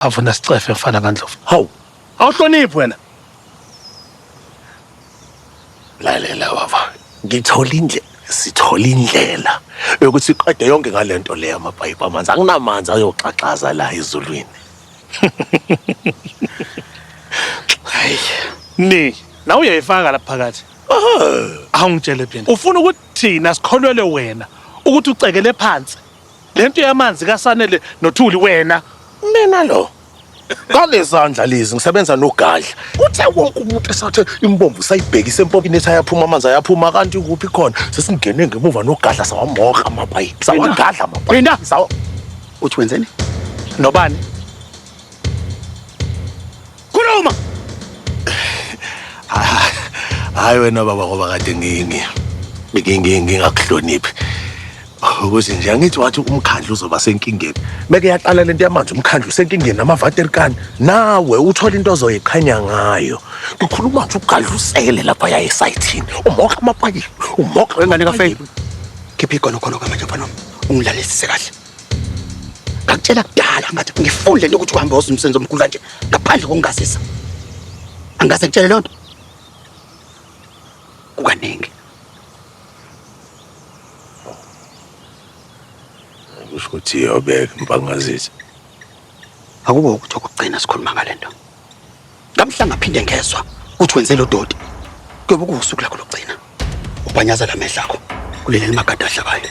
avuna sicefe mfana kaNdlovu hawu awuhloniphi wena lalela baba ngithola indlela sithola indlela yokuthi iqede yonke ngalento leyo amapayipi amanzi anginamanzi ayoxaxaza la ezulwini hayi ni la uyayifaka lapha phakathi awungitshele phela ufuna ukuthi thina sikholwele wena ukuthi ucekele phansi Lento yamanzi kaSanele noThuli wena. Mina lo. Ngalezandla lezi ngisebenza nogadla. Kuthe wonke umuntu esathe imbombo sayibhekise empopini ethi ayaphuma amanzi ayaphuma kanti kuphi khona. Sesingene ngemuva nogadla sawamoka amapayipi. Sawagadla amapayipi. Phinda. Sawa. Uthi wenzeni? Nobani? Khuluma. Ah, hayi wena baba ngoba kade ngingi. Ngingi ngingakuhloniphi. Ukuthi nje angithi wathi umkhandlu uzoba senkingeni. Meke yaqala lento yamanzi umkhandlu usenkingeni namavaterkani. Nawe uthola into ozoyiqhanya ngayo. Ngikhuluma nje ugadlusele lapha yaye sayithini. Umoka amapayipi. Umoka wengane kafeyini. Khipha igono khona kwamanje mfana wami. Ungilalelisise kahle. Ngakutshela kudala ngathi ngifuni lento ukuthi uhambe woza umsebenzi omkhulu kanje ngaphandle kokungazisa. Angase ngitshele lonto. Kukaningi. Usho ukuthi yobeka impangazisa. Akubo ukuthi okugcina sikhuluma ngalento. Ngamhla ngaphinde ngezwa ukuthi wenze lo doti. Kuyobe kuwusuku lakho lokugcina. Ubanyaza la mehla akho. Kulele magada ahlabayo.